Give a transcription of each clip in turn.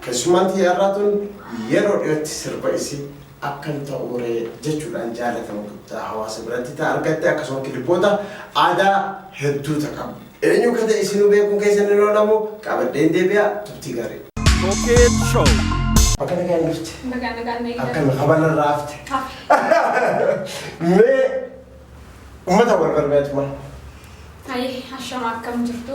Keessummaan tiyya har'aa tun yeroo dhiyootti sirba isii Akkam Ta'uu Ree jechuudhaan jaalatama guddaa hawaasa biratti ta argatte akkasuma kilibboota aadaa hedduu ta qabdu. Eenyu akka ta'e isinuu beekuun keessan hin oolamu qabadheen deebi'a turtii gaarii. Cokeed Show. Akka nagaan jirti. Bagaa nagaan na Akka eegdatu. habana irraa hafte. Hafe. Mee uummata wal barbaaduma. Hayi, ashama akkam jirtu?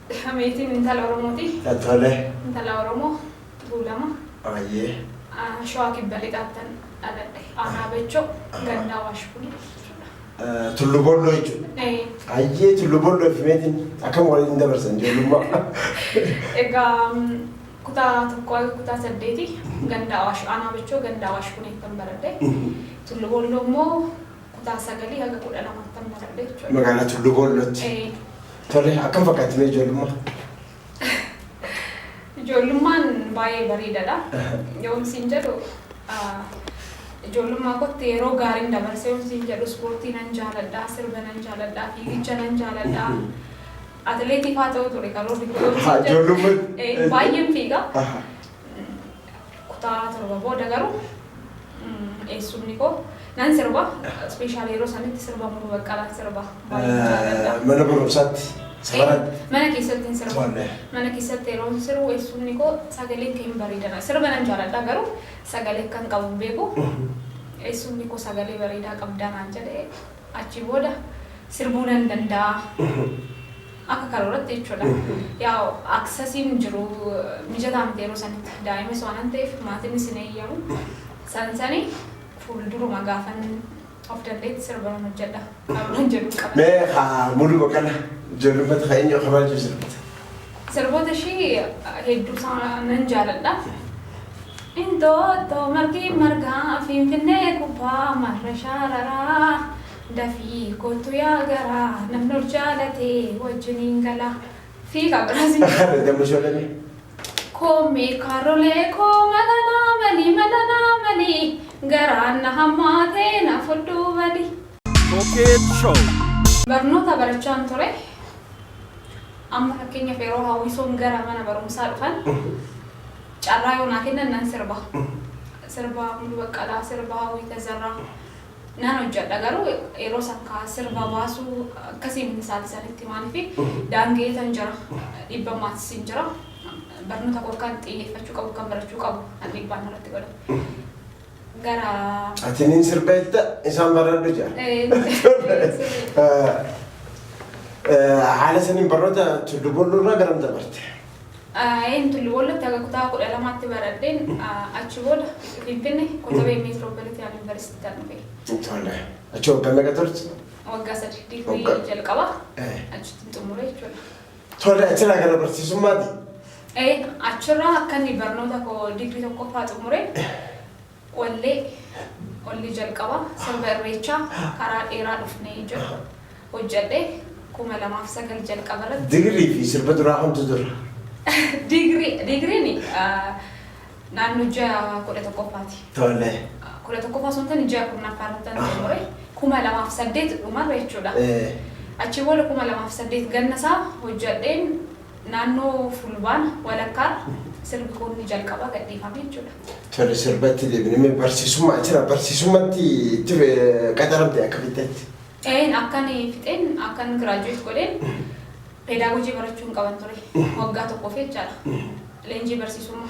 Meetiin intala Oromooti. Tole. Intala Oromoo Tuulama. Ayyee. Shawaa Kibba Lixaattan dhaladhe. Aanaa Bachoo ganda Awaash Bulii jechuudha. Tullu Bolloo jechuudha. Ee, Ayyee Tullu Bolloo fi Meetiin akkam waliin dabarsan ijoollummaa. Egaa mm, kutaa tokkoo hanga kutaa saddeeti ganda Awaash Aanaa Bachoo ganda Awaash Buliittan baradhe. Tullu Bolloo immoo Kutaa sagalii haga kudha lamaatti tan baradhe jechuudha. Magaalaa Tulluu Boollootti. Ee, Tole akkam fakkaatti mee ijoollummaa? Ijoollummaan baay'ee bareedaadha. Yoon siin jedhu ah, ijoollummaa kootti yeroo gaariin dabarse yoon siin jedhu ispoortii nan jaaladha, sirba nan jaaladha, fiigicha nan jaaladha. Atileetii fa'aa ta'uu ture karoorri koo yoon Haa, siin jedhu. ijoollummaa- Eh, Baay'een fiiga. Aha. Kutaa torba booda garuu eessumni koo nan sirba. Ispeeshaal yeroo sanitti sirba Muluu Baqqalaan sirba. Baay'ee jaalladha. Mana barumsaatti sabaratti. Mana keessatti hin sirbu. Tolle. Mana keessatti yeroo hin sirbu eessumni koo sagalee kee hin bareedana. Sirba nan jaalladha garuu sagalee kan qabu hin beeku. Eessumni koo sagalee bareedaa qabdaa naan jedhee achi booda sirbuu nan danda'a. Akka karooratti jechuudha. Yaa aksasiin jiru mijataa miti yeroo sanitti. Daa'imas waanan ta'eef maatinnis hin eeyyamu. San sani fuulduruma gaafan of danda'etti sirba nan hojjedha karooran jedhun qaba. Mee ka Muluu Baqqalaa jennu fati ka eenyu akka maaltu sirbite? Sirboota ishii hedduu isaa nan jaaladha. Inxooxxoo margi margaa Finfinnee gubbaa marra shaararaa. Dafii koottu yaa garaa namni ol jaalate wajjiniin gala fi kan biraas hin jiru. Ati damma ishoo dhabee. Koommee kaarrolee koo mala naa mali mala naa mali garaan na hammaatee na fudhuu badi. Cokeet Show. Barnoota barachaan ture. Amma fakkeenyaaf yeroo hawwisoon gara mana barumsaa dhufan carraa yoo naa kennan nan sirba. Sirba Muluu Baqqalaa, sirba Hawwii Tazarraa. Nan hojjadha garuu yeroo san kaa sirba baasuu akkasiin hin saati sanitti maalifi daangeetan jira dhibba maatisiin jira barnoota koo akkan xiyyeeffachuu qabu akkan barachuu qabu kan dhibbaan narratti godhamu gara Ati nin sirba jetta isaan baradhu jaa. Eh, sirrii. Haala saniin barnoota tullubolluu irraa garam dabarte? Aeen Tullu Boollotti haga kutaa 12tti baradheen achi booda Finfinne Kotabee Meetiroopolitiyaan Yunivarsiitiittan dhufe. Tole. Achi waggaa meeqa turte? Waggaa sadi digrii jalqaba achittin xumure jechuudha. Tole achirraa gara barsiisummaati? Ee achirraa akkan barnoota koo digrii tokkoffaa xumure Wallee, Qolli jalqaba sirba Irreechaa Karaa Dheeraa Dhufne jedhu hojjadhe 2009 jalqaba irratti. Digrii fi sirba duraa kamtu dura? Digrii, digriin naannoo ji'a 11ffaati. Tole. 11ffaa osoo hin taane ji'a 10ffaa irrattan xumure. 2008 dhumarra jechuudha. Ee. Achi booda 2008 ganna isaa hojjadheen Naannoo Fulbaana walakkaarra sirbi kun inni jalqabaa gadhiifame jechuudha. Tole sirba itti deebine mee barsiisummaa jira barsiisummatti itti qacaramte akka fixxetti. Een akkan fixeen akkan giraajuweet godheen peedaagojii barachuu hin qaban ture waggaa tokkoof jechaadha leenjii barsiisummaa.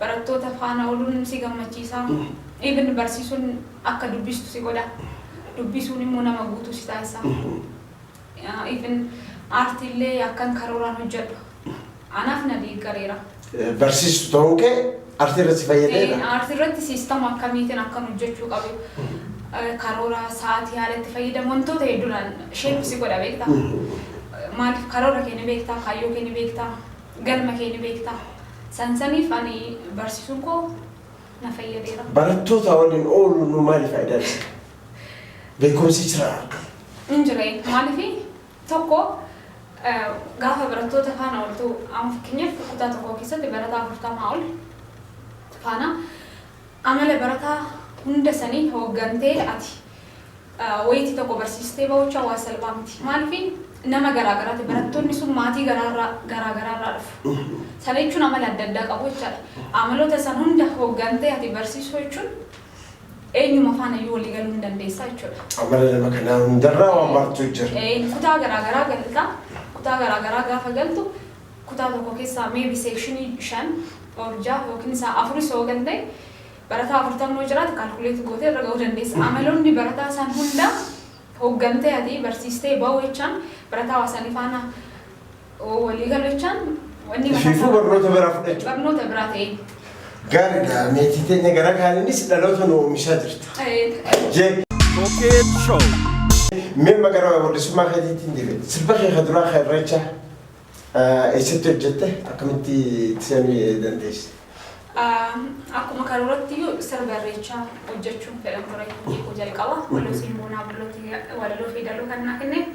Barattoota faana ooluun si gammachiisa. Even barsiisuun akka dubbistu si godha. Dubbisuun immoo nama guutuu si taasisa. Even aartii illee akkan karooraan hojjedhu anaaf na deeggareera. Barsiistu ta'uu kee aartii irratti si fayyadeera? Aartii irratti siistama akkamiitiin akkan hojjechuu qabu, karoora, sa'aatii haala itti fayyadamu wantoota hedduudhaan sheep si godha beektaa. Maaliif karoora kee ni beektaa, kaayyoo kee ni beektaa. Galma kee ni beekta. San saniif ani barsiisuun koo na fayyadeera. Barattootaa waliin ooluun nuu maali faayidaan isaa? Beekumsi jira akka. Hin jire. Maaliifi? Tokko gaafa barattoota faana ooltu amma fakkeenyaaf kutaa tokko keessatti barataa afurtamaa ol faana amala barataa hunda sanii hooggantee ati. wayiiti tokko barsiistee ba'uuchaan waan salphaa miti. Maaliif nama garaa garaati. Barattoonni sun maatii garaarraa garaa garaarraa dhufu. Sana jechuun amala adda addaa qabu jechaadha. Amaloota san hunda hoggantee ati barsiisuu jechuun eenyuma faana iyyuu walii galuu hin dandeessaa jechuudha. Amala nama kanaa hundarraa waan barattu jira. Ee, kutaa garaa garaa galta. Kutaa garaa garaa gaafa galtu kutaa tokko keessaa maybe seekshinii shan or ja'a yookiin isaa afuris yoo galte Barataa 40 yoo jiraate calculate gootee irra ga'uu dandeessa. Amaloonni barataa san hunda hoggantee ati barsiistee ba'uu jechaan barataa waa sanii faana walii galu jechaan wanni mataa Ifiifuu isaa barnoota biraa fudhachuu. barnoota biraa ta'ee. Gaariidha. Meetii teenya gara kaaniinis dhaloota nu oomishaa jirta. Eh, Jee. Showcase Show. Mee maqaa wallisummaa keetiitiin deebi'e. Sirba kee ka duraa ka irreechaa. Eessatti hojjette? Akkamitti itti seenuu dandeesse? Akkuma karooratti sirba irreechaa hojjechuun fedhan ture hojii koo jalqaba. Walosiin Boonaa Bullooti walaloo fi daloo kan naa kenne.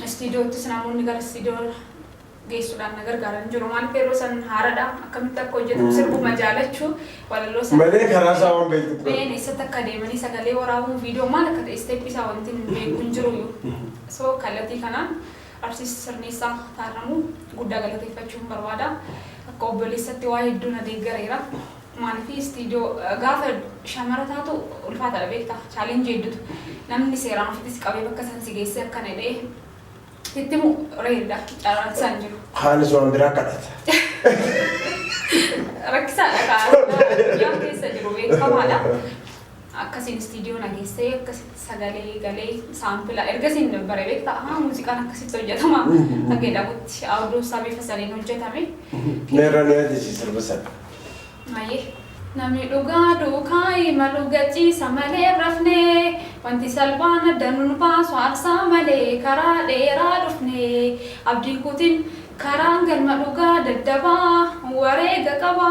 Istiidiyoottis namoonni gara istiidiyoo geessuudhaan na gargaaran jiru. Maaliif yeroo san haaradha akkamitti akka hojjetu sirbuma jaalachuu walaloo sana. Malee karaa isaa waan beektu ture. Been eessatti akka deemanii sagalee waraabuun viidiyoo maal akka ta'e isteeppii isaa wanti hin beeku hin jiru. So kallattii kanaan Artist Sirneessaa Taarramuu guddaa galateeffachuun barbaada. Akka obboleessatti waa hedduu na deeggareera. Maaliif istiidiyoo gaafa shamara taatu ulfaataadha beektaa chaalenjii hedduutu namni seeraan ofitti si qabee bakka san si geessee akkana jedhee sitti himu reeridha carraan isaa hin jiru. Kaanis waan biraa kadhata. Rakkisaadha kaa addunyaa keessa jiru beekamaadha. Akkasiin istiidiyoo na geesse, akkasitti sagalee galee saampila ergasiin bare beektaa ahaa muuziqaan akkasitti hojjetama kan jedhamutti awuduun isaa bifa saniin hojjetame. Na irraa na yaadachise sirba sana. Hayyee. Namni dhugaa duukaa imalu gachiisa malee hin rafne, wanti salphaan adda nun baasu aarsaa malee karaa dheeraa dhufne, abdiin kutin karaan galma dhugaa daddabaa wareega qaba,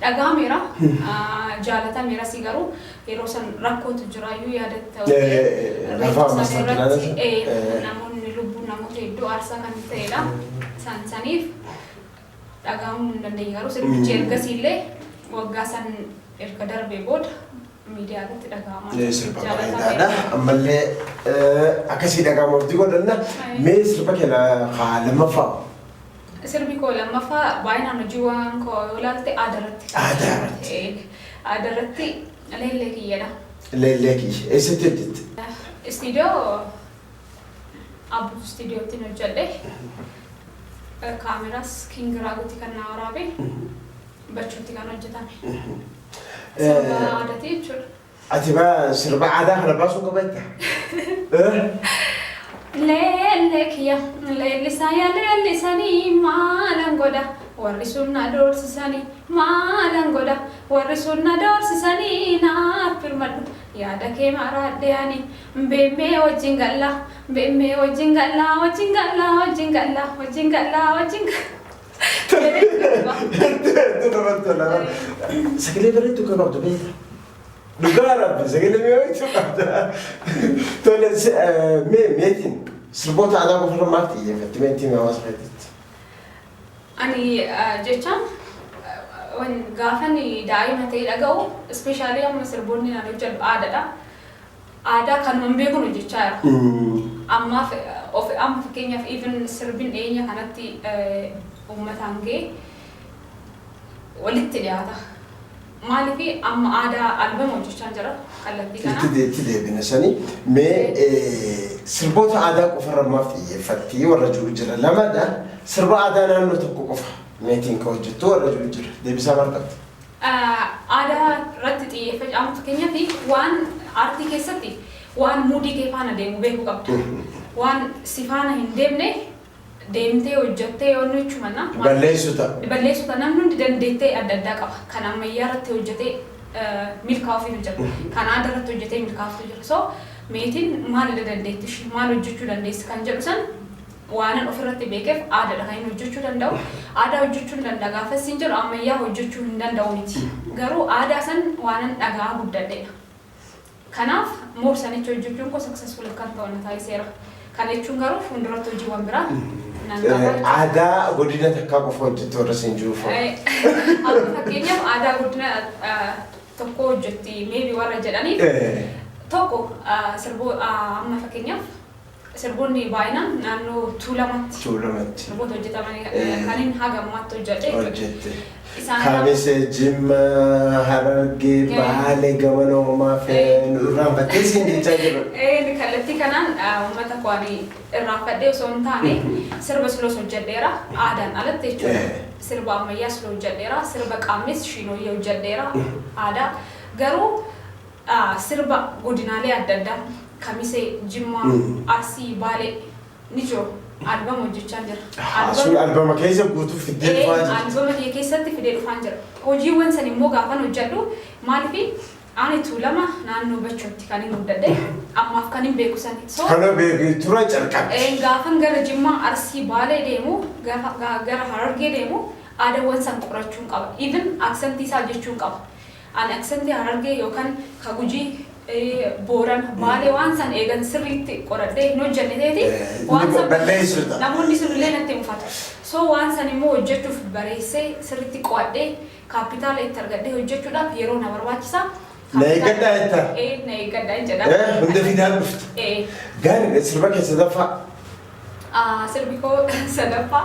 dhaga'ameera, jaalatameerasi garuu yeroo san rakkootu jiraayyuu yaadatta Eh, eh, eh, eh, lafaa reeffa sana masaajidaan irratti isa- eh, eh. namoonni lubbuun namoota hedduu aarsaa kan ta'edha san saniif dhaga'amuu hin dandeenye garuu sirbichi Mm. ergasiillee waggaa san erga darbee booda miidiyaa irratti dhaga'amaa Ee, sirba Jaalatameera. bareedaadha. Ammallee eh, akkasii dhaga'ama hojii godhanna. Ayi. Mee sirba keenya haa lammaffaa Sirbi koo lammaffaa baay'inaan hojii waan koo yoo ilaalte aadaa irratti. Aadaa irratti. Ee, Aadaa irratti leellee kiyyadha. leellee kiyya. Eessatti hojjette? Istiidiyoo Abbuu istiidiyootti hin hojjedhe. Kaameraas Kiingiraaguutti kan na waraabe. Bachuutti kan hojjetame. Sirba aadaati jechuudha. Ati baa sirba aadaa kana baasuu qaba jetta? Leellee kiyya leellisaa yaa leellisanii maalan godha warri sun na doorsisanii maalan godha warri sun na doorsisanii naaf birmadhu yaada kee maraadhee ani beemmee wajjin gallaa beemmee wajjin gallaa wajjin gallaa wajjin gallaa wajjin gallaa wajjin gallaa. Sagalee bareedduu kan qabdu beekta. Dhugaa rabbi sagalee mi'ooytuu qabda. Tole mee meetiin sirboota aadaa qofa irra maal xiyyeeffatti meetiin hawaasa keessatti? Ani jechaan gaafan daa'ima ta'ee dhaga'u ispeeshaalii amma sirboonni naan hojjedhu aadaadha. Aadaa kanuma hin beekun hojjechaa jira. Ammaaf of amma fakkeenyaaf even sirbin dhiyeenya kanatti uummataan ga'e walitti dhiyaata. Maaliifi amma aadaa albama hojjechaan jira kallattii kanaan. Itti itti deebina sani mee sirboota aadaa qofa irra maaf xiyyeeffattii warra jiru jira lamadha sirba aadaa naannoo tokko qofa meetiin ka hojjettu warra jiru jira deebisaa maal qabda? Aadaa irratti xiyyeeffacaamu fakkeenyaaf waan aartii keessatti waan muudii kee faana deemu beekuu qabda. Waan si faana hin deemne deemtee hojjattee yoo inni jechuun manna Balleessu ta'a. balleessu ta'a. Namni hundi dandeettee adda addaa qaba. Kan ammayyaa irratti hojjatee milkaa'uufiitu jira. Kan aadaa irratti hojjatee milkaa'uufiitu jira. So meetiin maalidha dandeetti ishii? Maal hojjachuu dandeessi? Kan jedhu san Waanan ofirratti beekeef aadaadha kan inni hojjechuu danda'u. Aadaa hojjechuun danda'a gaafa issiin jedhu ammayyaa hojjechuu hin danda'u miti. Garuu aadaa san waanan dhaga'aa guddadheedha. Kanaaf more sanicha hojjechuun koo successful akkan ta'u na taasiseera. Kana jechuun garuu fuulduratti hojiiwwan biraa nan qaba jechuudha. Aadaa godina takkaa qofa hojjette warra siin jiru fa'a. Amma fakkeenyaaf aadaa godina tokkoo hojjetti maybe warra jedhaniif tokko sirboo amma fakkeenyaaf Sirboonni baay'inaan naannoo Tuulamatti. Tuulamatti. Sirboota hojjetamani kanin haga ammaatti hojjadhe. Hojjette. Isaan kana. Kamise, Jimma, Harargee, Ee. Baale, Gamana Homaa fi Ee. nu irraanfattee siin jechaa jirra. Ee, kallattii kanaan ah, uummata koo ani irraanfadhee osoo hin taane sirba sloos hojjedheera aadaan alatti jechuudha. Eh. Sirba ammayyaa sloo hojjedheera, sirba qaamnis shiinooyyee hojjedheera aadaa. Garuu dha. Sirba godinaalee adda addaa Kamisee, Jimmaa, Arsii, Baalee ni jiru. Albama hojjechaan jira. Ahaa, sun Albama albama keessa guutuu fiddee Ee, dhufaa jirti. albama kiyya keessatti fidee dhufaan jira. Hojiiwwan san immoo gaafan hojjedhu maalifi ani Tuulama naannoo Bachootti kanin guddadhe ammaaf kanin beeku san. So, Kana beekee tura calqabdi. een, gaafan gara Jimmaa, Arsii, Baalee deemu, gaafa- ga- gara Harargee deemu aadawwan san qorachuun qaba. Even aksantii isaa jechuun qaba. An accent Harargee yookan ka Gujii, Booran, Baalee waan san eegan sirriitti qoradhee hin hojjanne ta'eeti waan san balleessu namoonni sun illee natti mufatu. So waan san immoo hojjachuuf bareessee sirriitti qo'adhee kaappitaala itti argadhee hojjachuudhaaf yeroo na barbaachisa. Na eeggadhaa jettaa? Ee na eeggadhaa hin jedha. Ee hunda fidaa dhufta. Ee. Gaariidha sirba kee sadaffaa. Sirbi koo sadaffaa.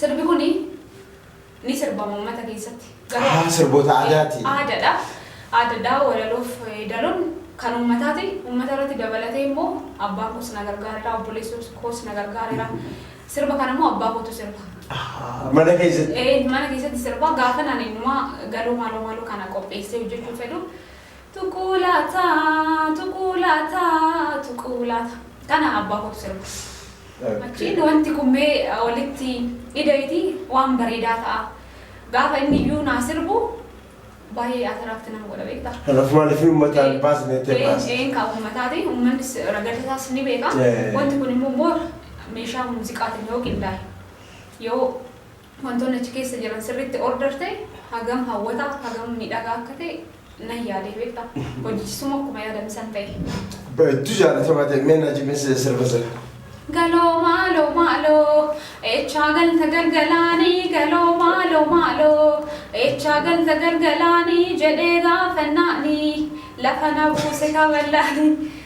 Sirbi kuni ni sirbama ummata keessatti. Garuu Ahaa, sirboota aadaati. aadadha. Aadadha walaloof yeedaloon kan ummataati. Ummata irratti dabalatee immoo abbaan koos na gargaareera, obboleessi koos na gargaareera. Sirba kana immoo abbaa kootu sirba. Ahaa, mana keessatti. Ee, mana keessatti sirbaa gaafan ani inumaa galoo maaloo maaloo kana qopheessee hojjechuu fedhu Tuquu laata, tuquu laata, tuquu laata. Kana abbaa kootu sirba. Okay. Achiin wanti kun mee walitti ida'iti waan bareedaa ta'a. Gaafa inni iyyuu naa sirbu baay'ee ataraakti nama godha beektaa. Kanaaf maaliif uummataan Ee, baasne jettee ee, baasne. ee, kaa uummataatiin uummannis ragada isaas ni beeka. Ee. Wanti kun immoo moora meeshaa muuziqaatiin yoo qindaa'e yoo Wantoonni achi keessa jiran sirriitti order ta'e hagam hawwataa, hagam miidhagaa akka ta'e nan yaade beektaa. Hojichisummoo akkuma yaadame san ta'e. Bareedduu jaalatamaa ta'e mee na jibinsiise sirba sana. Galoo maaloo maaloo eechaa galta galgalaanii galoo maaloo maaloo eechaa galta galgalaanii jedhee gaafannaanii lafa na buuse kaballaanii.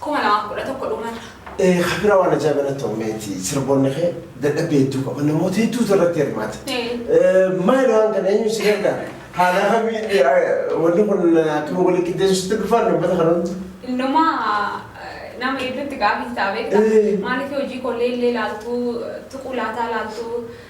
kuma lamaa fi kudha tokko dhumarra. Ee ka bira waan ajaa'iba natti ta'u meeti sirboonni kee dadhabbii hedduu qaba namoota hedduutu irratti hirmaata. Ee. Maali waan kana eenyu si gargaara? Haala akkamii eh, wanni kun akkuma wal qixxeessuutti dhufaan uummata kana hundi. Innuma nama hedduutti gaafii ta'a beektaa? Ee. Maaliif hojii kollee illee laaltuu tuquu laataa laaltuu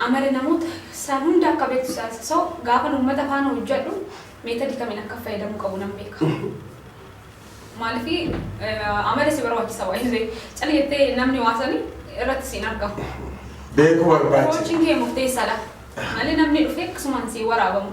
Amala namoota San hunda akka beektu taasisa. So, gaafan uummata faana hojjadhu method kamiin akka fayyadamuu qabu nan beeka. Maaliif amala si barbaachisa waan ta'eef. Cal jettee namni waa sani irratti si hin argamu. Beekuu barbaachisa. Approach kee murteessaadha. Malee namni dhufee akkasumaan si hin waraabamu.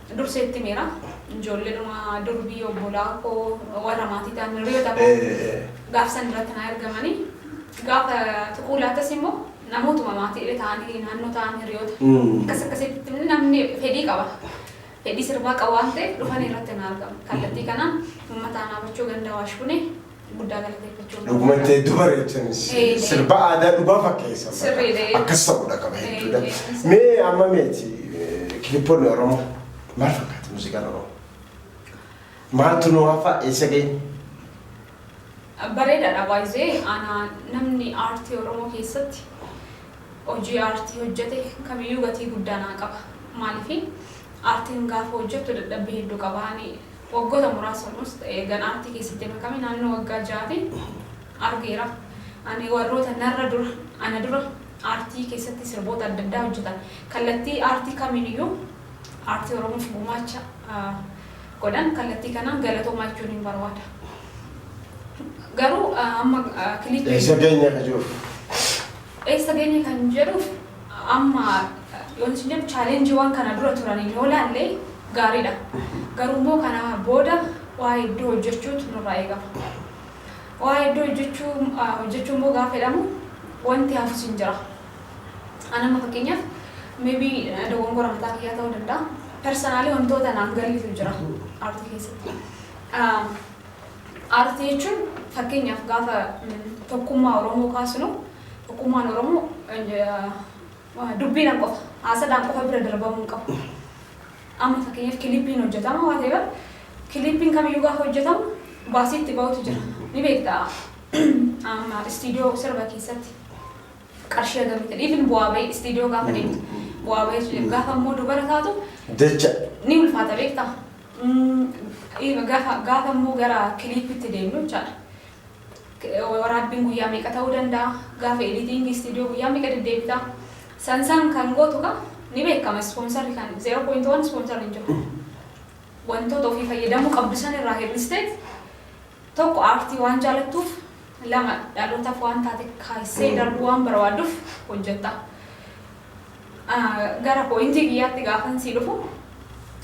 Dursee itti himeera. Ijoolleedhuma durbii obbolaa koo warra maatii ta'an hiriyoota koo gaafa san irratti na ergamanii gaafa tuquu laattas immoo namootuma maatii illee ta'anii naannoo ta'an hiriyoota akkas akkasitti namni fedhii qaba. Fedhii sirbaa qaba waan ta'eef dhufanii irratti na argamu. Kallattii kanaan uummata aanaa bachuu ganda waashbunee guddaa galateeffachuu hin Dhugumatti barbaada. hedduu bareechanis Eh, eh. sirba aadaa dhugaa fakkeessa. Sirriidha, eh. Akkas ta'uudha qaba Eh, hedduudha. eh, eh. Mee amma meeti eh, kilipoonni Oromoo maal fakkaata muuziqaan Oromoo? Maaltu nu hafa eessa ga'e? Bareedaadha baay'ee aanaa namni aartii Oromoo keessatti hojii aartii hojjete kamiyyuu gatii guddaa naa qaba. Maaliif aartiin gaafa hojjettu dadhabbii hedduu qaba. Ani Waggota muraasa olmost eegan aartii keessatti makame naannoo waggaa ja'aatiin argeera. Ani warroota narra dura, ana dura aartii keessatti sirboota adda addaa hojjetan, kallattii aartii kamiiniyyuu aartii Oromoof gumaacha godhan kallattii kanaan galatoomaa jechuuniin barbaada. Garuu amma kiliippii. Eessa geenya ka jiruuf? Eessa geenya kan jedhuuf. Amma yoon isin jedhu challenge-iiwwan kana dura turaniin yoo ilaalle gaariidha. Garuu immoo kana booda waa hedduu hojjechuutu nurraa eegama. Waa hedduu hojjechuu hojjechuu immoo gaafa jedhamu wanti hafus hin jira. An amma fakkeenyaaf may be dogongora mataa kiyyaa ta'uu danda'a. Personally wantoota naaf galiitu jira aartii keessatti. Aartii jechuun fakkeenyaaf gaafa tokkummaa Oromoo kaasnu Tokkummaan Oromoo dubbiidhaan qofa, haasadhaan qofa bira darbamuu hin qabu. Amma fakkeenyaaf kilippiin hojjetama waan ta'eef kilippiin kamiyyuu gaafa hojjetamu baasii itti ba'utu jira. Ni beekta amma istiidiyoo sirba keessatti qarshii hagamii ta'e even bu'aa ba'ii istiidiyoo gaafa deemtu bu'aa ba'ii sun gaafa immoo dubara taatu Jecha. ni ulfaata beekta. Mm, Gaafa gaafa immoo gara kilippitti deemnu jechaadha. Waraabbiin guyyaa meeqa ta'uu danda'a? Gaafa editing studio guyyaa meeqa deddeebita? San san kan gootu kaa ni beekama sponsor kan 0.1 sponsor hin jiru. Wantoota ofii fayyadamuu qabdu san irraa hir'isteet tokko aartii waan jaalattuuf lama dhalootaaf waan taate kaasee darbuu waan barbaadduf hojjetta. Gara pooyintii kiyyaatti gaafan sii dhufu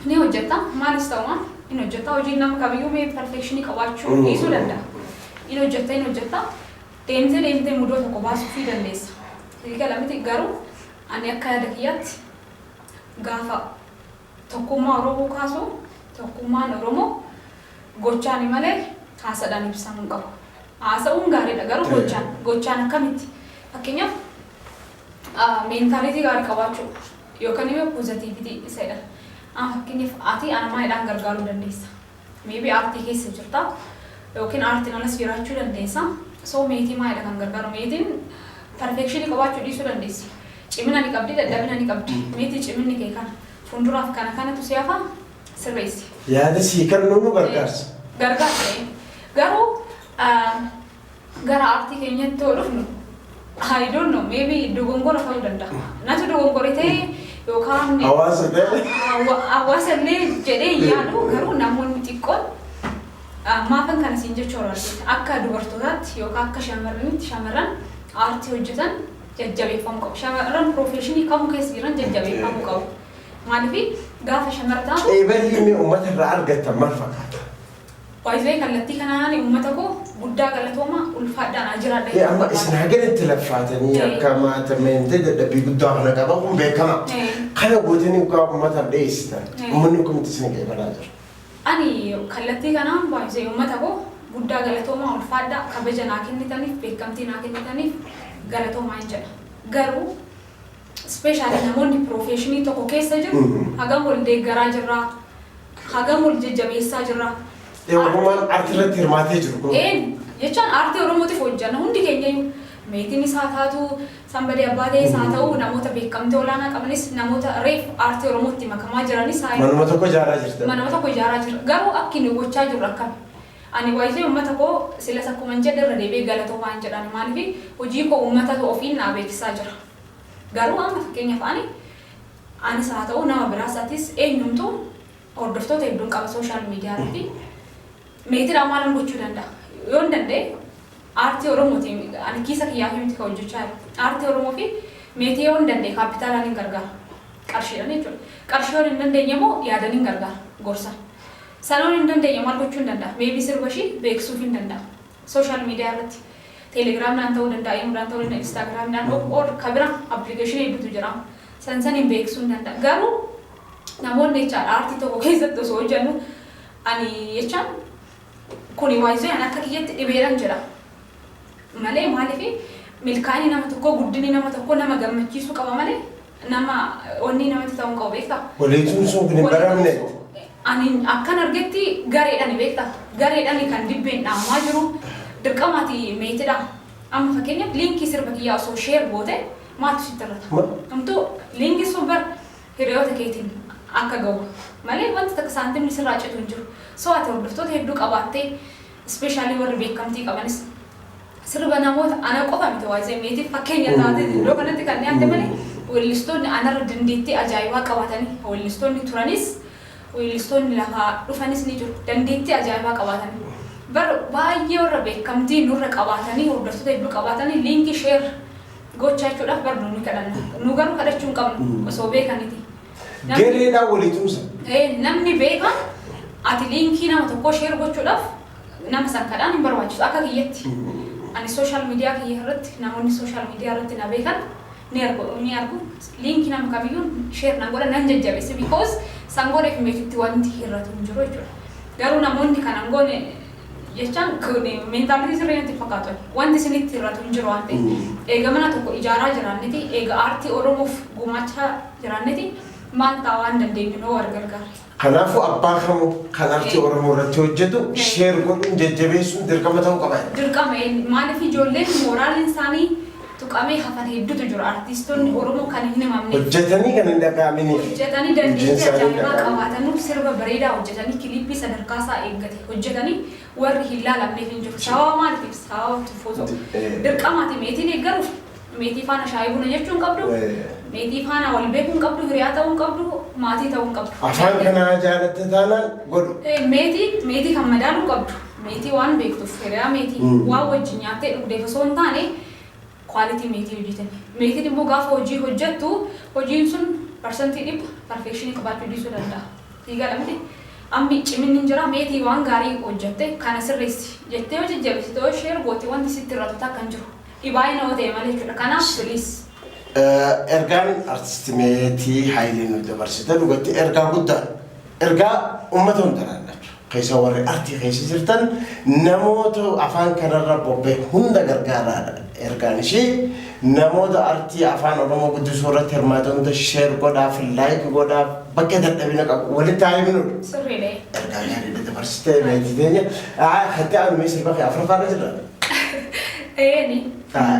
ni hojjetta maalis ta'u maal in hojjetta hojiin nama kamiyyuu mee perfeekshinii qabaachuu dhiisuu danda'a. In hojjetta in hojjetta deemtee deemtee mudoo tokko baasuufii dandeessa. Sii gala miti garuu ani akka yaada kiyyaatti gaafa tokkummaa Oromoo kaasu tokkummaan Oromoo gochaani malee haasadhaan ibsamuu hin qabu. Haasa'uun gaariidha garuu gochaan gochaan akkamitti fakkeenyaaf A, Mentality gaari qabaachuu yookan immoo positivity isa jedhan. Amma fakkeenyaaf ati ana maalidhaan gargaaruu dandeessa? Maybe aartii keessa jirta yookin aartiin alas jiraachuu dandeessa. So meetii maalidha kan gargaaru? Meetiin perfection qabaachuu dhiisuu dandeessi. Cimina ni qabdi, dadhabina ni qabdi. Meetii ciminni kee kana. Fuulduraaf kana kanatu si hafa sirreessi. Yaada sii kennu moo gargaarsa? Gargaarsa. Garuu Gara aartii keenyatti yoo dhufnu I don't know maybe dogongora ta'uu danda'a. Natu dogongore ta'e yookaan Hawaasa ta'e. hawa- hawaasa illee jedhee hin yaadu garuu namoonni xiqqoon ah, maafan kana siin jechuu barbaade akka dubartootaatti yookaan akka shamarranitti shamarran aartii hojjetan jajjabeeffamuu qabu. Shamarran piroofeeshinii kamuu keessa jiran jajjabeeffamuu qabu. Maaliif gaafa shamarra taatu Qeeballi inni uummata irraa argattan maal fakkaata? By the way kallattii kanaani ummata koo guddaa galatooma ulfaadhaa naa jiraadha Ee amma isin hagan itti laffaatanii Ee. akka maata meentee dadhabbii guddaa kana qaban kun beekama. Ee. Kana gootanii ugaa ummataaf dhiyeessitan. Ee. Ummanni kun itti isin qeebalaa jira. Ani kallattii kanaan by the way ummata koo guddaa galatooma ulfaadhaa kabaja naa kennitaniif beekamtii naa kennitaniif galatoomaa hin jedha. Garuu Ispeeshaalii namoonni piroofeeshinii tokko keessa jiru hagam wal deeggaraa jirra, hagam wal jajjabeessaa jirra. Ee Oromoon artii irratti hirmaatee jiru kun. Ee jechaan aartii Oromootiif hojjanna hundi keenyayyuu. Meetiinis haa taatu, Sanbadee Abbaalees haa ta'u, namoota beekamtii olaanaa qabanis, namoota reef aartii Oromootti makamaa jiranis haa Manuma tokko ijaaraa jirtan. Manuma tokko ijaaraa jirra. Garuu akki nu gochaa jirru akkami? Ani waayitee uummata koo silas akkuman jedhe irra deebi'ee galatoomaan jedhan. Maaliif hojii koo uummatatu ofiin naa beeksisaa jira. Garuu amma fakkeenyaaf ani, anis haa ta'uu nama biraas atis eenyumtuu hordoftoota hedduun qaba social media irratti. Meetiidhaan maalan gochuu danda'a? Yoon danda'e aartii Oromootiin ani kiisa kiyyaafii miti kan hojjechaa jiru. Aartii Oromoo fi meetii yoon danda'e kaappitaalaan hin gargaara. Qarshiidhaan jechuudha. Qarshii yoon hin dandeenye immoo yaadan hin gargaara, gorsan. Sana yoon hin dandeenye maal gochuun danda'a? Maybe sirba ishii beeksisuufiin danda'a. Social media irratti telegram dhaan ta'uu danda'a, imo dhaan ta'uu danda'a, instagram dhaan ok or ka bira application heddutu jira. San saniin beeksisuun danda'a. Garuu namoonni jechaan aartii tokko keessatti osoo hojjannu ani jechaan kuni yz an akka kiyyatti dhibeedhan jedha. Malee maaliif milkaa'inni nama tokkoo guddinni nama tokkoo nama gammachiisuu qaba malee Nama onnee namatti ta'uun qabu beektaa? Waliin suusuun kun hin baramne. Ani akkan argetti gareedhani beekta gareedhani kan dibbeen dhaamaa jiru dirqama ati meetidha amma fakkeenyaaf liinkii sirba kiyyaa osoo sheer goote maaltu sitti irrata Ma? hamtuu liinkiin sun bar hiriyoota keetiin akka ga'u malee wanti takka saantimni sirraa citu hin jiru soo ati hordoftoota hedduu qabaattee ispeeshaalii warri beekamtii qabanis Sirba namoota ana qofa miti waa'ee meetiif fakkeenya taatee iddoo kanatti kan dhiyaatte malee weellistoonni anarra dandeettii ajaa'ibaa qabaatanii weellistoonni turanis weellistoonni lafaa dhufanis ni jiru. Dandeettii ajaa'ibaa qabaatanii bar baay'ee warra beekamtii nurra qabaatanii hordoftoota hedduu qabaatanii liinkii share gochaa jechuudhaaf bar nu ni kadhanna. Nu garuu kadhachuu hin qabnu osoo beekaniti. Namni- Gareedhaan walii tumsa. Ee, namni beekaan ati liinkii nama tokkoo share gochuudhaaf Nama san kadhaan hin barbaachisu akka kiyyatti. Ani social media kiyya irratti namoonni social media irratti na beekan ni argu ni argu link nama kamiyyuu share nan godha nan jajjabeessa because san godheef meetitti wanti hir'atu hin jiru jechuudha. Garuu namoonni kana hin goone jechaan kun mentality sirrii natti hin fakkaatu ani. Wanti isinitti hir'atu hin jiru waan ta'eef. Eega mana tokko ijaaraa jiraanneti eega aartii Oromoof gumaachaa jiraanneti maal ta'a waan dandeenyuun yoo wal gargaarre. Kanaafuu abbaa kamuu kan artii Oromoo irratti hojjetu share godhuun jajjabeessuun dirqama ta'uu qaba jedha. Dirqama eenyu maaliif ijoolleen mooraaliin isaanii tuqamee hafan hedduutu jiru artiistonni Oromoo kan hin himamne. Hojjetanii kan hin dhaga'aminiif. Hojjetanii dandeettii ajaa'ibaa qabaatanuuf sirba bareedaa hojjetanii kiliippii sadarkaa isaa eeggate hojjetanii warri hin laalamne hin jiru. Sababa maaliitiif? Sababa tuffuu tokko. Dirqamaati meetii deeggaruuf. Meetii faana shaayii buna jechuu hin qabdu. Meetii faana wal beekuu hin qabdu, hiriyaa ta'uu hin qabdu, maatii ta'uu hin qabdu. Afaan kanaa jaalatte taanaan godhu. Meetii meetii kan madaaluu qabdu. Meetii waan beektuuf hiriyaa meetii waan wajjin nyaattee dhugdeef osoo hin taane Quality meetii hojiitan. Meetiin immoo gaafa hojii hojjattu hojiin sun parsantii dhibba perfection qabaachuu dhiisuu danda'a. Sii gala miti? Ammi ciminni hin jira meetii waan gaarii hojjatte kana sirreessi jettee yoo jajjabessite yoo share goote wanti sitti hir'atu takka hin jiru. Dhibaayina yoo ta'e malee jechuudha. Kanaaf please. Ergaan artisti meetii hayilee nuuf dabarsite dhugatti ergaa guddaadha. Ergaa ummata hunda laallatu keessa warri artii keessa jirtan namoota afaan kanarra bobbee hunda gargaaraadha ergaan ishii namoota artii afaan oromoo guddisuu irratti hirmaata hunda sheer godhaaf laayik godhaaf bakka dadhabina qabu walitti haa himnudha. Sirriidha. Ergaa gaariidha dabarsitee meetii teenya hatti aanumee sirba kee afuraffaarra jirra. Eeni. Haa.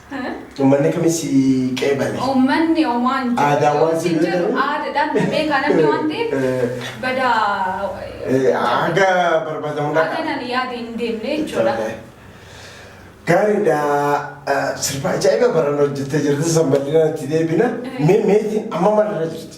Uummanni kami si qeebale? Uummanni omaa hin jiru. Aadaa waan si Hin jiru. beekaniif. Aadaadhaan na beekaa namni waan ta'eef Eh. badaa Eh, Haga barbaadamu Haga dhaqa. nan yaade hin deemne jechuudha. Tole. Gaariidha. Eh, Sirba ajaa'iba barana hojjettee jirti. San bal'inaan itti deebina. Mee meetiin amma maalirra jirti?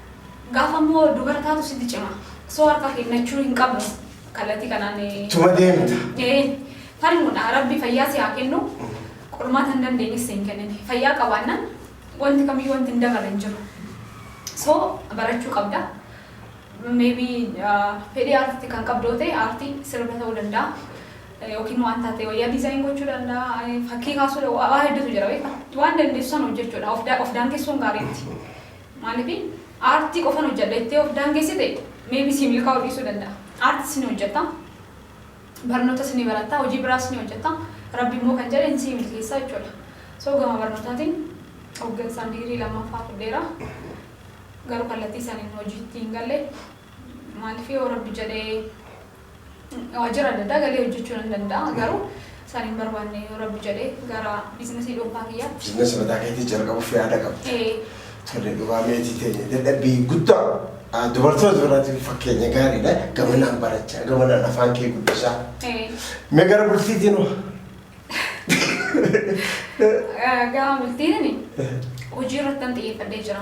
Gaafa immoo dubara taatu sitti cima. So harka kennachuu hin qabnu kallattii kanaan. Tuma deemta. Ee, falmuudha. Rabbi fayyaa si haa kennu. Qormaata hin dandeenyes si hin kennine. Fayyaa qabaannaan wanti kamiyyuu wanti hin dabarre hin jiru. So barachuu qabda. Maybe fedhii aartiitti kan qabdu yoo ta'e aartii sirba ta'uu danda'a. Yookiin waan taatee wayyaa diizaayin gochuu danda'a. Fakkii kaasuu waa hedduutu jira beektaa. Waan dandeessu sana hojjechuudha. Of daangessuun gaariitti. Maaliif aartii qofan hojjedha jettee of daangessite maybe sii milkaa'uu dhiisuu danda'a. Aartis ni hojjetta, barnootas ni baratta, hojii biraas ni hojjetta, rabbi immoo kan jedhe ni sii milkeessa jechuudha. So gama barnootaatiin hoggansaan digirii lammaffaa fudheera. Garuu kallattii saniin hojiitti hin galle. Maaliif yoo rabbi jedhee. Waajjira adda addaa galee hojjechuu nan danda'a. Garuu sana hin barbaanne yoo Rabbi jedhe gara biizinasii dhuunfaa kiyyaatti. Biizinasii mataa keetii jalqabuuf yaada qabda. Ee. Tole dhugaa meetii teenya dadhabbii guddaa ah, dubartoota biraatiin fakkeenya gaariidha. Gamanaan barachaa, gamanaan afaan kee guddisaa. Ee. Mee gara bultiitiin hoo? Gama bultiinani hojii irratti nan xiyyeeffadhee jira.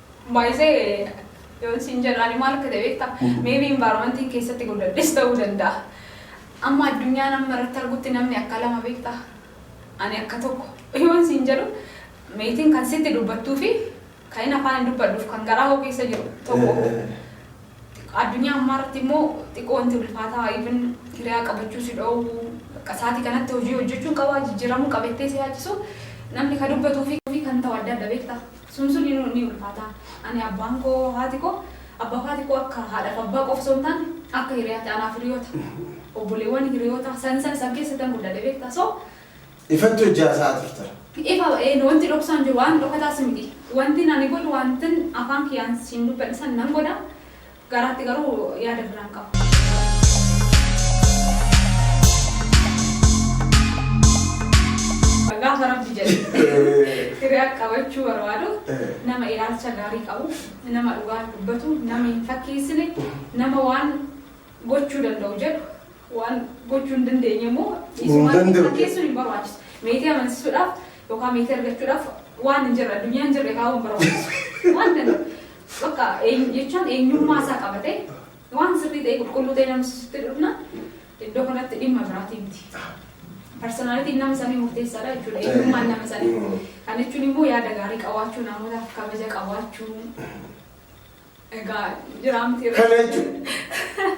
Baay'isee yoon siin jedhu ani maal akka ta'e beektaa? Maybe environmentiin keessatti guddadhes ta'uu danda'a. Amma addunyaan amma irratti argutti namni akka lama beektaa? Ani akka tokko yoon siin jedhu meetiin kan sitti dubbattuu fi kan inni afaan hin dubbadhuuf kan garaa koo keessa jiru tokko. Addunyaa ammaa irratti immoo xiqqoo wanti ulfaataa even hiriyaa qabachuu si dhoowwu bakka sa'aatii kanatti hojii hojjechuun qabaa jijjiiramuu qabettee si yaachisu namni kan dubbatuu fi kan ta'u adda adda beektaa? Sun sun inuu ni ulfaata. Ani abbaan koo haati koo abbaaf haati koo akka haadhaaf abbaa qofa osoo hin taane akka hiriyaati anaaf hiriyoota obboleewwan hiriyoota san san san keessattan guddadhe beektaa so. Ifatti hojii haasa'aa turta. Ifa ee wanti dhoksaa hin jiru waan dhokataas miti wantin ani godhu wantin afaan kiyyaan siin dubbadhe san nan godha. Gaaraatti garuu yaada biraan qaba. Gaafa rabbi jedhe hiriyaa qabachuu barbaadu nama ilaalcha gaarii qabu nama dhugaa dubbatu nama hin fakkeessine nama waan gochuu danda'u jedhu waan gochuu hin dandeenye immoo dhiisumaan danda'u. fakkeessuun hin barbaachisu. Meetii amansiisuudhaaf yookaan meetii argachuudhaaf waan hin jirre addunyaan jirre kaa'uu hin barbaachisu. Waan danda'u. Bakka eenyu jechaan eenyummaa isaa qabatee waan sirrii ta'e qulqulluu ta'e nama sisutti dhufna iddoo kanatti dhimma biraatii miti. Parsonaalitiin nama sanii murteessaadha jechuudha. Eenyummaan nama sanii. Kan jechuun immoo yaada gaarii qabaachuu namootaaf kabaja qabaachuu egaa jiraa miti. Kana jechuun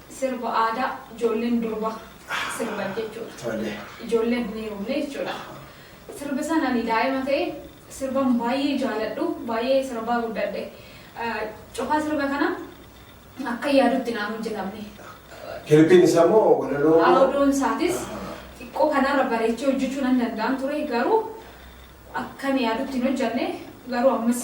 Sirba aadaa ijoolleen durba sirban jechuudha. Ijoolleen hin heerumne jechuudha. Sirbi san ani daa'ima ta'e sirban baay'ee jaaladhu baay'ee sirbaa guddadhe. Cufaa sirba kana akkan yaadutti naan hojjetamne. Kilippiin isaa moo walaloo moo? Audioon isaatis xiqqoo kanarra bareechee hojjechuu nan danda'an ture garuu akkan yaadutti hin hojjenne garuu ammas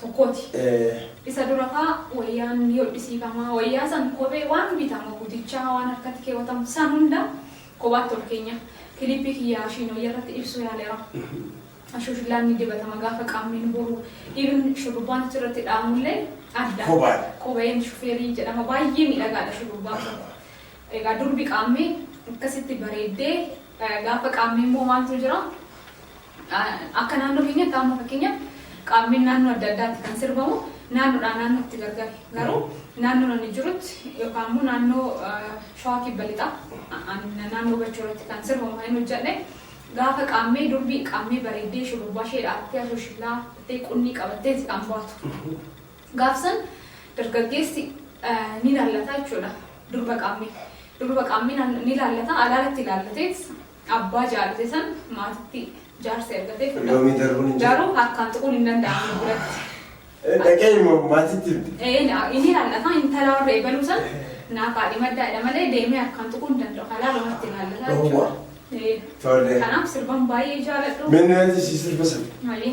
tokkooti. Isa dura faa wayyaan ni hodhisiifama. Wayyaa san kophee waan bitamu gutichaa waan harkatti keewwatamu san hunda kophaatti ol keenya. Kiliippii kiyya ashiin wayya irratti ibsuu yaaleera. Ashuushulaan ni dibatama gaafa qaamni nu horu. Even shurrubbaan achi irratti dhaamullee adda. Kophaadha. Kopheen shufeerii jedhama baay'ee miidhagaadha shurrubbaan kun. Egaa durbi qaammee akkasitti bareeddee eh, gaafa qaammee immoo maaltu jira? Akka naannoo keenyatti amma fakkeenyaaf qaammeen naannoo adda addaatti kan sirbamu naannoodhaa naannootti gargar. Garuu naannoon ani jirutti yookaan immoo naannoo Shawaa Kibba Lixaa naannoo Bachoo irratti kan sirbamu kan inni hojjedhe gaafa qaammee durbi qaammee bareeddee shurrubbaa ishee dhaattee asooshillaa dhattee qunnii qabattee itti kan baatu. Gaafsan dargaggeessi ni laallata jechuudha durba qaammee. Durba qaammee ni laallata alaalatti laallateet Abbaa jaalate san maatitti jaarsa ergatee fudhate. Loomii darbuun hin jiru. Garuu harkaan tuquun hin danda'amu nu biratti. Dhaqee immoo maatitti himte. Ee na- inni lallataa intala warra eegaluu san naa kaadhimaddaa jedha malee deemee harkaan tuquu hin danda'u. Halaa lamatti laallataa Dhowwa. jechuudha. Ee. Tole. Kanaaf sirban baay'ee jaaladhu. Mee nu yaadisiisi sirba sana. Malee.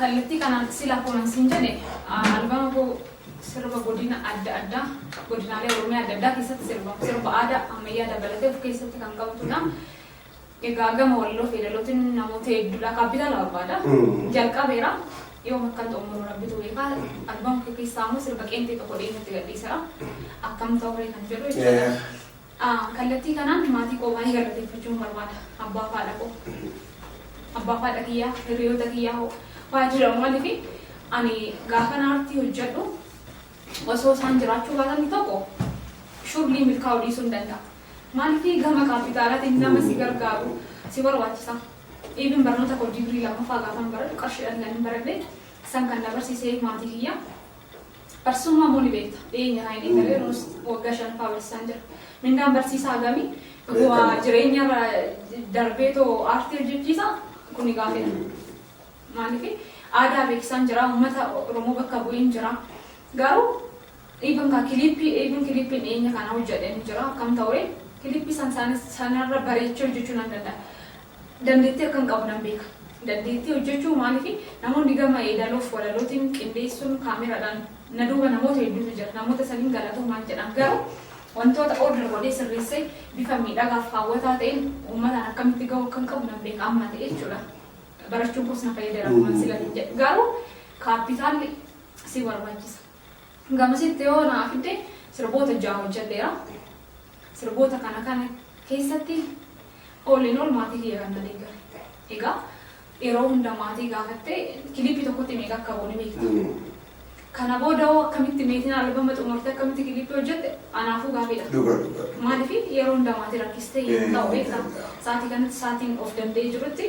Kallattii kanaan sila akkuman siin jedhe albama koo sirba godina adda addaa godinaalee Oromiyaa adda addaa keessatti sirbamu sirba aadaa ammayyaa dabalatee of keessatti kan qabatudha. Egaa gama walloo fi yeedalootiin namoota hedduudha kaappitaala barbaada. Jalqabeera yoom akkan xumuru rabbitu beekaa albama kee keessaa immoo sirba qeenxee tokko dhiyeenyatti gadhiisera akkam ta'uree kan jedhu jechuudha. a Kallattii kanaan maatii koo baay'ee galateeffachuun barbaada. Abbaa fi haadha koo. Abbaa fi haadha kiyyaa, hirriyoota kiyyaa hoo faa jira maaliif ani gaafan aartii hojjedhu osoo isaan jiraachuu baatanii tokko shurlii milkaa'uu dhiisuu hin danda'a. Maaliif gama kaappitaalaatiin nama si gargaaru si barbaachisa. Even barnoota koo digirii lammaffaa gaafan baradhu qarshiidhaan kan hin baradhe san kan na barsiise maatii kiyya. Barsiisummaa immoo ni beekta. Dhiyeenya irraa hin eegalee nuus waggaa shanaffaa barsiisaan jira. Mindaan barsiisaa hagami? Bu'aa jireenya irra darbee too aartii hojjechiisa kuni gaafii dha. Maaliif aadaa beeksisaan jira, uummata Oromoo bakka bu'een jira. Garuu even ka kiliippii even kiliippiin dhiyeenya kana hojjedheen jira akkam ta'ure kiliippii san sanarra bareechee hojjechuu nan danda'a. Dandeettii akkan qabu nan beeka. Dandeettii hojjechuu maaliif namoonni gama yeedaloof walalootiin qindeessuun kaameraadhaan na duuba namoota hedduutu jira. Namoota saniin galatoomaan jedhaan garuu wantoota order godhee sirreessee bifa miidhagaaf haawwataa ta'een uummataan akkamitti gahuu akkan qabu nan beeka amma ta'e jechuudha. Barachuun koos na fayyadeera akkuma silatin jedhe. Garuu kaappitaalli si barbaachisa. Hanga amasitti yoo naa fidde sirboota ja'a hojjedheera. Sirboota kana kana keessatti all in all maatii kiyya kan na deeggare. Egaa yeroo hunda maatii gaafattee kiliippii tokkotti meeqa akka ba'u ni beekta. Kana booda hoo akkamitti meetiin albama xumurtee akkamitti kiliippii hojjette anaafuu gaaffiidha. Dhuga dhuga. Maaliif yeroo hunda maatii rakkistee hin ta'u beekta. Sa'aatii kanatti sa'aatiin of danda'ee jirutti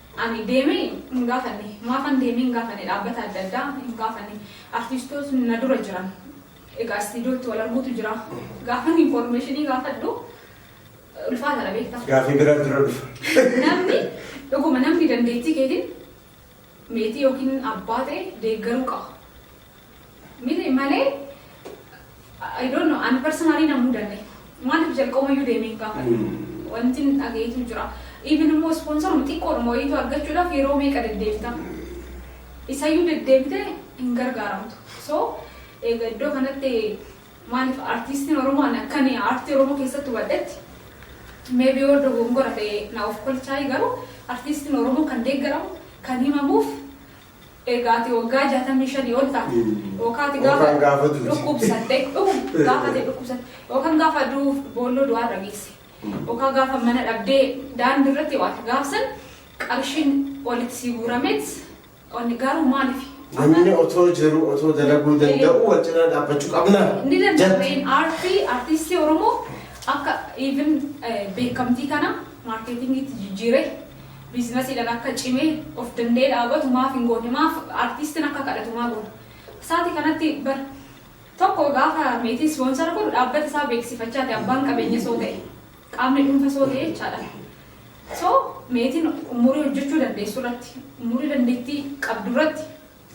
Ani deemee hin gaafanne. Maafan deemee hin gaafanne dhaabbata adda addaa hin gaafanne. Artistootni na dura jiran egaa istiidiyootti wal arguutu jira. Gaafan infoormeeshinii gaafadhu ulfaataadha beektaa. Gaafii biraatu dura dhufa. Namni dhuguma namni dandeettii keetiin meetii yookiin abbaa ta'e deeggaruu qaba. Miti malee I don't know ani personally na mudanne maaliif jalqabayyuu deemee hin gaafadhu wanti hin dhageetu jira even immoo sponsor xiqqoodhuma wayiitu argachuudhaaf yeroo meeqa deddeebita isayyuu deddeebite hin gargaaramtu so egaa iddoo kanatti maaliif artiistiin oromoo ani akkan aartii oromoo keessatti hubadhetti maybe yoo dogongora ta'e na of kolchaayi garuu artiistiin oromoo kan deeggaramu kan himamuuf Egaa ati waggaa 65 ol taate yookaan ati gaafa Yookaan gaafa duute. dhukkubsatte dhuguma Eh. gaafa ati dhukkubsatte yookaan gaafa du'uuf boolloo du'aa irra geesse yookaan gaafa mana dhabdee daandii irratti waate gaafsan qarshiin walitti sii guurameet onni garuu maaliif Namni otoo jiru otoo dalaguu danda'u wal cinaa dhaabbachuu qabna. Ni Jatti. danda'ameen aartii aartistii Oromoo akka even beekamtii kana maarkeetingiitti jijjiiree biiznasiidhan akka cimee of danda'ee dhaabatu maaf hin goone maaf artiistin akka kadhatu maa goona saati kanatti bar tokko gaafa meetii ispoonsara godhu dhaabbata isaa beeksifachaati abbaan qabeenya soo ta'e qaamni dhuunfa soo ta'e jechaadha so meetiin umurii hojjechuu dandeessu irratti umurii dandeettii qabdu irratti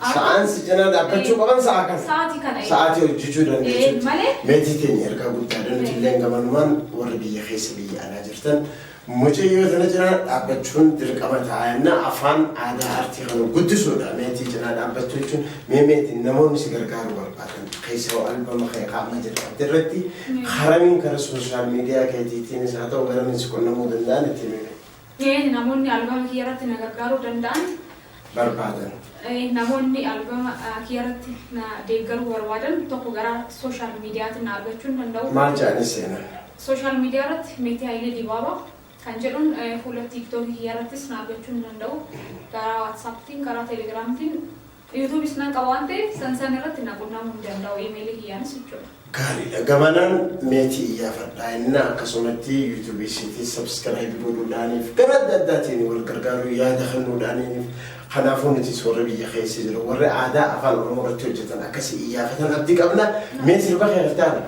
Sa'aan si cinaa dhaabbachuu qaban sa'a kana. Sa'aatii kana. Sa'aatii hojjechuu dandeessuutti. Malee. Meetii teenya ergaa guddaa danuuti illee gamanumaan warri biyya keessa biyya alaa jirtan mucayyoo sana cinaa dhaabbachuun dirqama ta'a jenna afaan aadaa aartii kana guddisuudha meetii cinaa dhaabbachuu jechuun mee meetiin namoonni si gargaaru barbaadan keessoo albama kee qaama jalqabde irratti haramiin karaa sooshaal miidiyaa keetiitiinis haa ta'u garamiin si qunnamuu danda'an itti himee. Keen namoonni albama kiyyarratti na gargaaruu danda'an. barbaadan. Namoonni albama kiyyarratti na deeggaruu barbaadan tokko gara social mediatiin na argachuu ni danda'u. Maal jedhanii seenan? Social media irratti Meetii Hayilee Dibaabaa kan jedhuun fuula tiktok kiyyarrattis na argachuu ni danda'u. Karaa whatsapptiin, karaa telegramtiin. Yuutuubis nan qaba waan ta'eef san san irratti na qunnamuu ni danda'u iimeelii kiyyaanis jechuudha. Gaariidha gamanaan meetii iyyaafadhaa innaa akkasumatti yuutuubii isiitiin sabskiraayibi godhuudhaaniif gara adda addaatiin wal gargaaruu yaada kennuudhaaniif kanaafuu nutis warri biyya keessa jiru warri aadaa afaan oromoo irratti hojjetan akkasi iyyaafatan abdii qabna mee sirba kee kitaaba.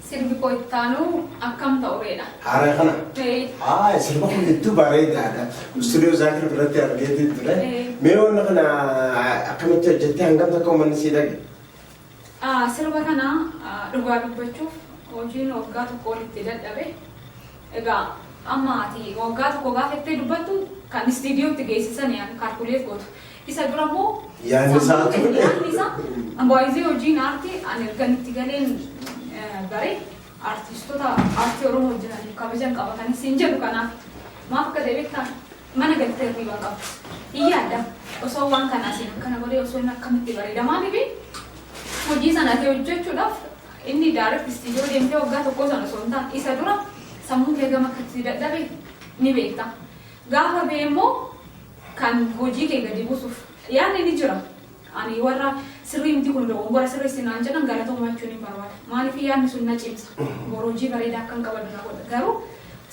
Sirbi koo itti aanu akkam ta'ureedha? Haara kana? Ee. Haa sirba kun hedduu bareedaadha. Istuudiyoo Zaakir biratti argeetiin ture. Ee. Mee wanna kana akkamitti hojjettee hangam takka uummanni sii dhage? Ah, Sirba kana ah, dhugaa dubbachuuf hojiin waggaa tokko olitti dadhabe. Egaa amma ati waggaa tokko gaafa itti dubbattu kan istiidiyootti geessisanii kaalkuleet gootu. Isa dura immoo Yaadni isaa sammuu ture. yaadni isaa baay'ee hojiin aartii ani ergan itti galeen eh, bare aartistoota aartii Oromoo hojjetaniif kabajan qaba kan isin jedhu kanaaf maaf akka ta'e beektaa mana galtee hirriibaa qaba. Hin yaadda osoo waan kanaa siin akkana godhee osoo inni akkamitti bareedamaa dhibe hojii sana ta'e hojjechuudhaaf inni daaretti istiidiyoo deemtee waggaa tokkoo sana osoo hin taane isa dura sammuu kee gama akkatti dadhabe ni beekta. Gaafa bee immoo kan hojii kee gadi buusuuf yaadni ni jira. Ani warra sirrii miti kun dogongora sirreessi naan jedhan galatoomaa jechuun hin barbaada. Maaliif yaadni sun na cimsa. Boru hojii bareedaa akkan qabadhu na godha. Garuu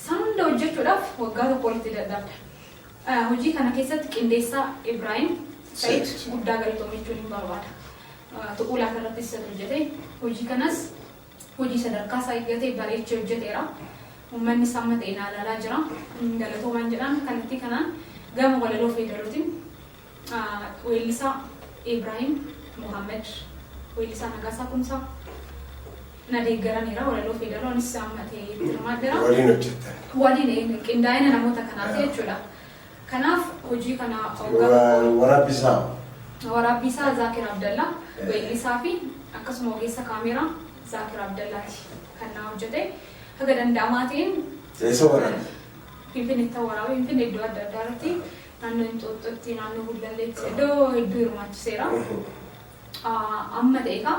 san hunda hojjechuudhaaf waggaa tokko ol itti dadhabda. Eh, Hojii kana keessatti qindeessaa Ibraahim Said Said. guddaa galatoomi jechuun hin barbaada. Eh, Tuquu laata irratti isa hojjete. Hojii kanas Hojii sadarkaa isaa eeggate bareechee hojjeteera. Uummanni isaa amma ta'e naa ilaalaa jira. Galatoomaan jedhaan kallattii kanaan gama walaloo fi yeedalootiin weellisaa Ibraahim Muhammad, weellisaa Nagaasaa Kumsaa na deeggaraniira. Walaloo fi yeedaloo anis amma ta'e itti hirmaadheera. Waliin hojjettan? Waliin qindaa'ina namoota kanaati jechuudha. Kanaaf hojii kana oggaa. Waraabbii isaa. Waraabbii isaa Zaakir Abdallaa, weellisaa fi akkasuma ogeessa kaameeraa Zaakir Abdallaati kan naa hojjete. Haga danda'amaa ta'een. Eessa waraabe? Finfinneettan waraabe. Finfinnee iddoo adda addaa irratti naannoo Inxooxxootti, naannoo Gullalleetti iddoo hedduu hirmaachiseera. Amma ta'e egaa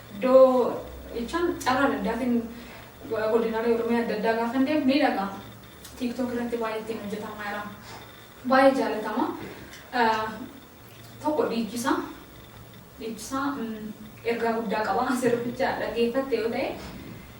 Iddoo jechaan carraa adda addaatiin godinaalee Oromiyaa adda addaa gaafan deemu ni dhaga'a. TikTok irratti baay'ee ittiin hojjetamaa jira. Baay'ee jaalatama. Tokko dhiichisa. Dhiichisa ergaa guddaa qaba. Sirbicha dhaggeeffatte yoo ta'e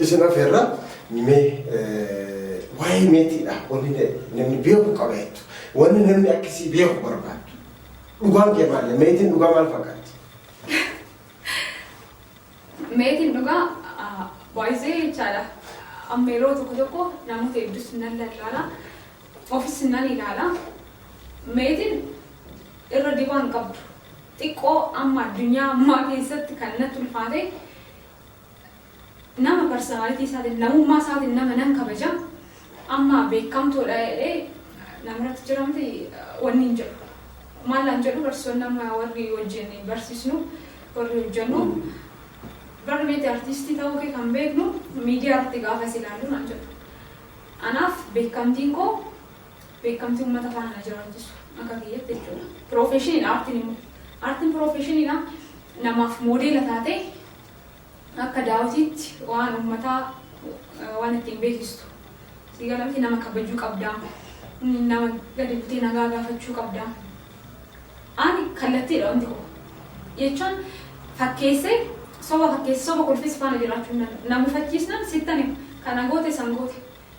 Isin afeerra mee waa'ee meetiidha wanni namni beeku qaba jettu wanni namni akkasii beeku barbaaddu dhugaan kee maali meetiin dhugaa maal fakkaatti? Meetiin dhugaa baay'isee jechaadha. Amma yeroo tokko tokko namoota hedduus nan lallaala. Ofis nan ilaala. Meetiin irra dibaan qabdu. Xiqqoo amma addunyaa ammaa keessatti kan natti ulfaate Nama personality isaatiin, namummaa isaatiin nama nan kabaja, amma beekamtoodha jedhee namarratti jira miti wanni hin jedhu. Maal naan jedhu barsiisonni amma warri wajjin barsiisnu, warri hojjennu, bar miti artiistii ta'uu kee kan beeknu miidiyaa irratti gaafa si ilaallu naan jedhu. Anaaf beekamtiin koo beekamtii ummata faana na jiraachisu akka kiyyatti jechuudha. Piroofeeshiniidha aartiin immoo. Aartiin piroofeeshiniidha namaaf moodeela taatee akka daawwitiitti waan ummataa waan ittiin beeksistu. Sii gala miti nama kabajuu qabdaa. Nama gadi butee nagaa gaafachuu qabdaa. Ani kallattiidha wanti koo. Jechuun fakkeessee soba fakkeessee soba kolfees faana jiraachuu hin danda'u. Na mufachiisnaan sittan hima. Kana goote san goote.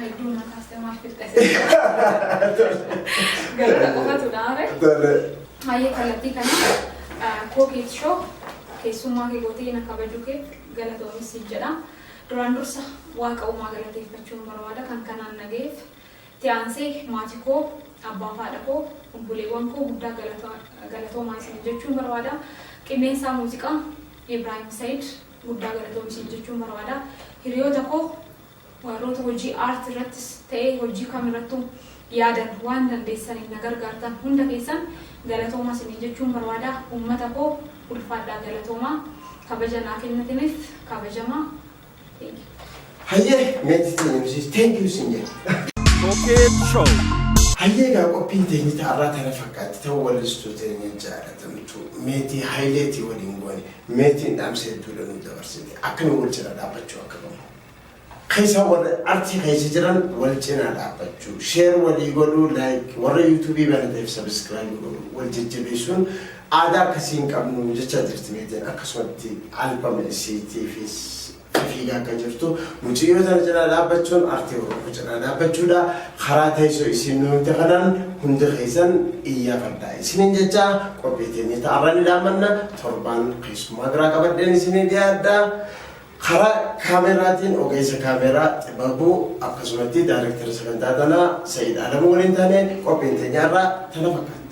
Hedduu na kaastee maaf fixxee? Galata qofatu na hafe. Tole. Hayyee kallattii kana kookeet shoo keessummaa kee gootee na kabajuu kee galatoomis siin jedha. Duraan dursa waaqa uumaa galateeffachuun barbaada kan kanaan nagayeef. Tiyaansee maatii koo abbaa fi haadha koo obboleewwan koo guddaa galata- galatoomaa isin jechuun barbaada. Qindeessaa muuziqaa Ibraahim Sayid guddaa galatoomi siin jechuun barbaada. Hiriyoota koo warroota hojii aartii irrattis ta'ee hojii kam irrattuu yaadan waan dandeessaniin na gargaartan hunda keessan galatoomaa isiniin jechuun barbaada. Uummata koo ulfaadhaa galatoomaa kabaja naa kennitiniif kabajamaa. Thank you. Hayyee meetis ta'e nusis thank you siin jedha. Cokeet Show. Hayyee egaa qophiin teenyita har'aa tana fakkaatti ta'u wallistuu teenya jaalatamtu meetii hayileetii waliin goone. Meetiin dhaamsa hedduudha nuu dabarsite. Akka nu wal cina dhaabbachuu akka qabnu. Keessa warra artii keessa jiran wal cinaa dhaabbachuu. Share walii godhuu like warra YouTube banateef subscribe godhu wal jajjabeessuun aadaa akkasii hin qabnu jechaa jirti meetiin akkasumatti albama isiitiifis Akka fiigaa akka jirtu mucayyoo tana cinaa dhaabbachuun artii Oromoo cinaa dhaabbachuudha. Karaa teessoo isiin nu himte kanaan hundi keessan iyyaafadhaa isiniin jechaa qophii teenya ta'arraa ni dhaammanna. Torbaan keessummaa biraa qabadheen isinii dhiyaadha. Karaa kaameraatiin ogeessa kaameraa Xibabuu akkasumatti daariktara sagantaa tanaa Sa'iid Alamuu waliin taane qophiin teenyaarraa tana fakkaata.